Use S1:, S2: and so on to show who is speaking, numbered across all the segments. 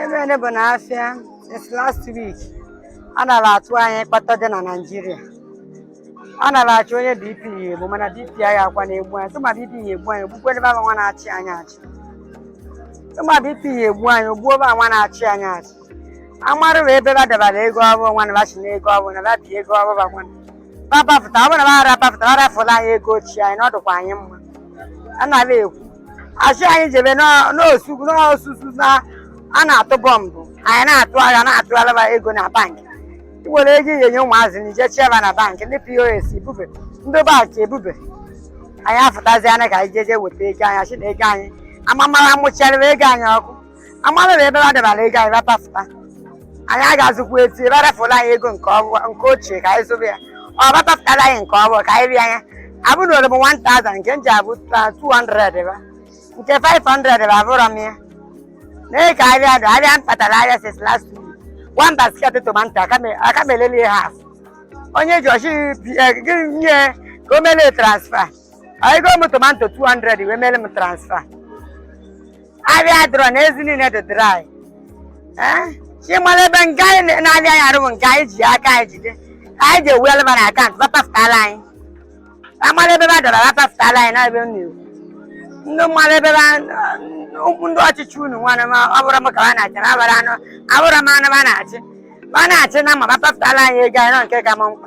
S1: Ife bụ na afịa since last week a nara atụ anyị kpata dị na Naịjirịa a nara achị onye BP ya egbu mana BP ya akwa na-egbu anyị tụma BP ya egbu anyị ogbukwe ebe ahụ nwa na-achị anyị achị tụma BP ya egbu anyị ogbuo ebe ahụ nwa na-achị anyị achị amarụ bụ ebe ba debara ego ọfụ nwa na bachi na ego ọfụ na babi ego ọfụ bakwa babapụta ọ bụrụ na bara bapụta ba rafụla anyị ego ochie anyị na ọ dịkwa anyị mma a nara ekwu asị anyị jebe n'ọ- n'osu n'osusu na a na-atụ bọmbụ anyị na-atụ agha na-atụ alaba ego na bankị ị were ego ihe nye ụmụazị na ije cheba na bankị ndị POS ebube ndị bankị ebube anyị afụtazi anya ka anyị jeje weta ego anyị asị na ego anyị amamara mụcharịrị ego anyị ọkụ amarịrị ebe a debara ego anyị ba pafụta anyị agazikwa eti ebe arafụla anyị ego nke ochie ka anyị zobe ya ọ ba pafụtara anyị nke ọfụ ka anyị rịa anya abụ na oroma 1000 nke m ji abụ 200 ba nke 500 bụ afụrọ m ya mee ka ahịa dị ahịa m kpatara ahịa since last week one basket tomato aka m- aka m eleli ya half onye ji ọ sị gị nye ka o mele transfer ego m tomato 200 wee mele m transfer ahịa dịrọ na ezi niile dị dry Eh? ịmara ebe nke anyị na- na-afịa anyị arụ bụ nke anyị ji aka anyị jide anyị ji ewuela ma na account ba pafụtala anyị amara ebe ba dọrọ apapụtala anyị na-ebe m na-ekwu ndị mmadụ ebe ba ụkwụ ndị ọchịchị unu nwanne m ọ bụrọ m ka ha na-achị na abara anụ abụrọ m anụ ba na-achị ba na-achị na ma bapapụtala anyị ego anyị na ọ nke ka m mkpa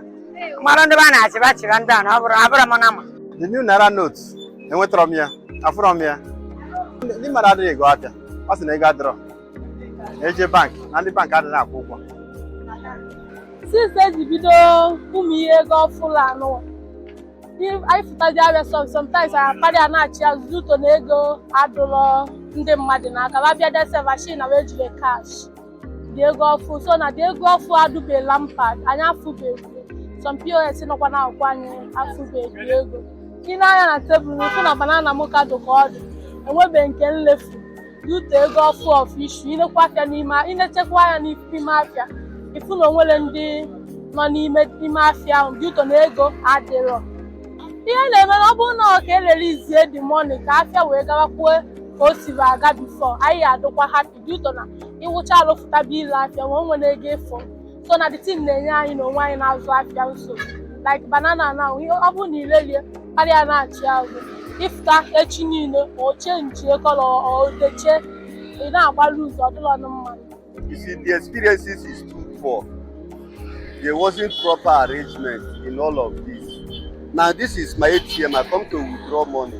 S1: mmadụ ndị ba na-achị ba chịba ndị a na ọ bụrụ abụrọ m nama the new
S2: naira note enwetarọ m ya afụrọ m ya ndị mmadụ adịghị ego afịa ọ sị na ego adịrọ eje bank na ndị bank adịghị akwụ
S3: ụgwọ since eji bido ụmụ ihe ego ọfụ a nụ anyị fụtazi afịa some sometimes anyị akparị a na-achị ya due to na ego adụlọ ndị mmadụ n'aka ba bịa dese mashin na wee jiri cash the ego ọfụ so na the ego ọfụ adụbela mpa anyị afụbeghị some POS nọkwa na akwụkwọ anyị afụbeghị ego i nee anya na tebụl ị fụ na banana m ka dụ ka ọ dị enwebeghị nke m lefu Due to ego ọfụ ọfụ issue i nekwa afịa n'ime i nechekwa anya n'ime afịa ị fụ na o nwere ndị nọ n'ime ime afịa ahụ due to na ego adịrọ ihe na-eme na ọ bụrụ na ọ ka e releasie the money ka afịa wee gawakwuo ka o siri aga before anyị adịkwa happy due to na ị wụcha alụ fụtaba ile afịa ma o nwere ego ị fụ so na the thing na-enye anyị na onwe anyị na-azụ afịa nsogbu like banana na ihe ọ bụrụ na ilelie karịa na-achị azụ ịfụta echi niile ma o chenjie colour o techie ị na-agbalụ ụzọ ọ dụlọnụ mma You see,
S2: the experiences is too poor, there wasn't proper arrangement in all of this. Now, this is my ATM. I come to withdraw money.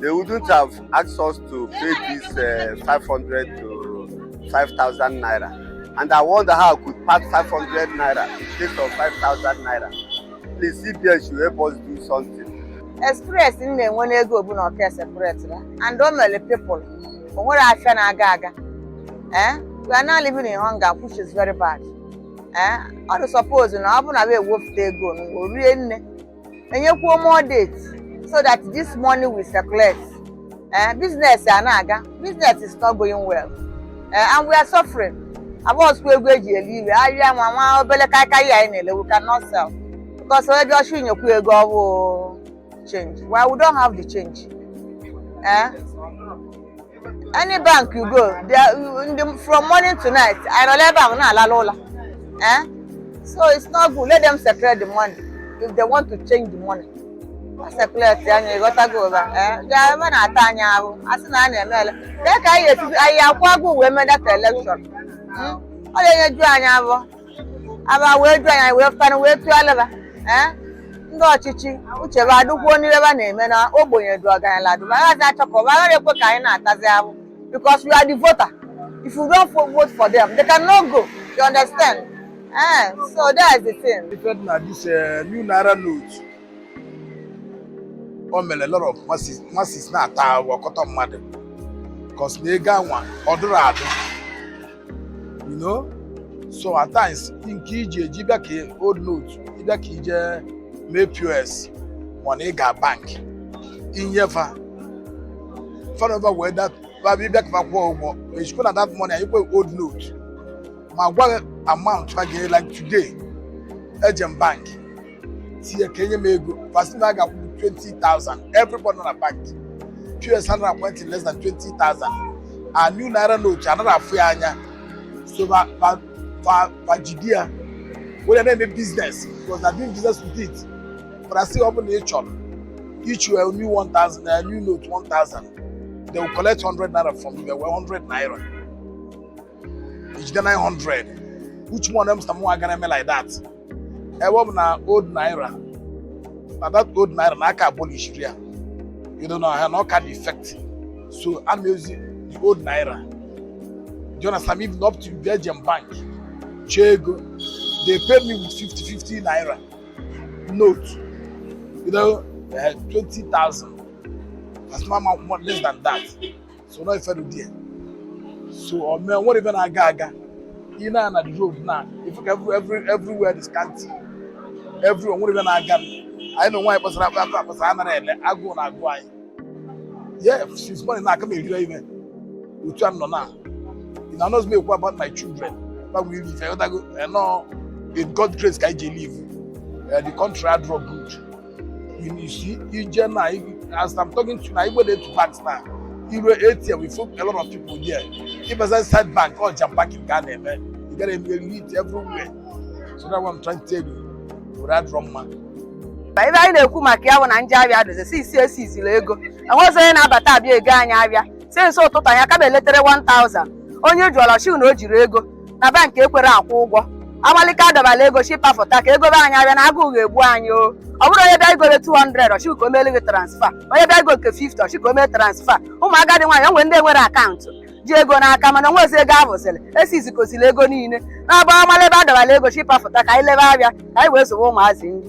S2: they wouldn't have asked us to pay this uh, 500 to 5,000 naira. And I wonder how I could pass 500 naira in place of 5,000 naira. Please, CBN should help us do something. Experience m
S1: na-enwe n'ego bụ na ọka circulate ya and o mere people o nwerọ afịa na-aga aga eh we are now living in hunger which is very bad eh ọ dị suppose na ọ bụ na wee wefute ego na o rinne enyekwuo more date so that this money will circulate eh, business a na-aga business is not going well eh, and we are suffering abọsụkwa ego eji eli ive ahịa nwa nwa obele kaikai anyị na-ele we cannot sell because onye bịa ọ chọọ inyekwu ego ọ bụ change while we don't have the change eh? any bank you go there in the, from morning to night ị nọrọ ebe ahụ na-alala ụlọ eh so it's not good let them circulate the money if they want to change the money ha circulate ya ị ghọtago ụba eh ga ebe na-ata anyị ahụhụ a sị na a na-eme ele dee ka anyị esi anyị akwago wee mee that election ọ na-enyeju anyị abụọ aba wee ju anya wee fụtara wee tụọla ba ee ndị ọchịchị uche ba adụkwuo n'ihe ba na-eme na ogbenye dụ ọgaranya dụ agaghị achọ ka ọba agaghị ekwe ka anyị na-atazi ahụhụ because we are the voter if you don't vote for them they cannot go you understand eh so that is the thing. ife na this
S4: eh, new naira note o mere lot of masses na-ata ọkọtọ mmadụ because na ego anwa ọ dụrọ adụ you know so at times nke iji eji bịa ka old note ịbịa ka ije mee pos mana ị ga bank inye fa fa anaba wee dat babịa ka fa kwụọ ụgwọ ejikwa na that money enyekwa old note ma gwa amount a ga-ele like today eje m bank sị ya ka enye m ego fa sị na a ga-akwụ 20,000 everybody na bank pos anaghị akwụ 20 less than 20,000 a new naira note anaghị afụ ya anya so ba ba ba ba jide ya were na-eme business because they are doing business with it but a sị ọ bụ na ị chọrọ iji were new 1,000 na new note 1,000 they will collect 100 naira from you fa were 100 naira ị jide 900 which one of them is the more a ga na-eme like that ebe ọ bụ na old naira na that old naira na aka abolishiri ya you know na na ọ ka dị effective so a na-ezi the old naira do you understand even up to Belgium bank chee ego they pay me with 50 50 naira note you know uh, 20,000 as my mouth more less than that so na ife dị ya so ọ mee enwerọ ife na-aga aga ị na na the road now ị fụ ka every everywhere is scanty everywhere enwerọ ife na-aga anyị na nwaanyị kpasara akpa akpa akpasara anara ele agụụ na agụ anyị yeah since morning now aka m erirọ ife otu a nọ na ị na anọzi m ekwu about my children gbanwe iri ife ịghọtago enọ in God grace ka anyị ji live the country adrọ good Inishi, Ijema, as I'm talking to you now, you go there to banks now. Ị ruo ATM, we found a lot of people there. If I say side bank or jam-pack in Ghana, man, you gotta meet everywhere. So that's what I'm trying to tell you. Ife adịrọ mma. na ive
S1: anyị na-ekwu maka ya bụ na ndị avịa dozi si isi esi isiri ego enwezi onye na-abata avịa ego anyị avịa si n'isi ụtụtụ anyị aka beletere 1000 onye jụọla shi na o jiri ego na bank ekwerọ akwụ ụgwọ amalị ka adọbala ego shi pafụta ka egobe anyị avịa na agụụ ga-egbu anyị o ọ bụrụ onye bịa igole 200 ọ shị ka o meele gị transfa onye bịa igo nke 50 ọ shị ka o mee transfa ụmụ agadi nwaanyị o nwere ndị enwerọ akaụntụ ji ego n'aka mana onwezi ego avụzili esi izikosiri ego niile na-agba amalị ebe adọbala ego shi pafụta ka anyị lebe avịa ka anyị wee zụwe ụmụazị nri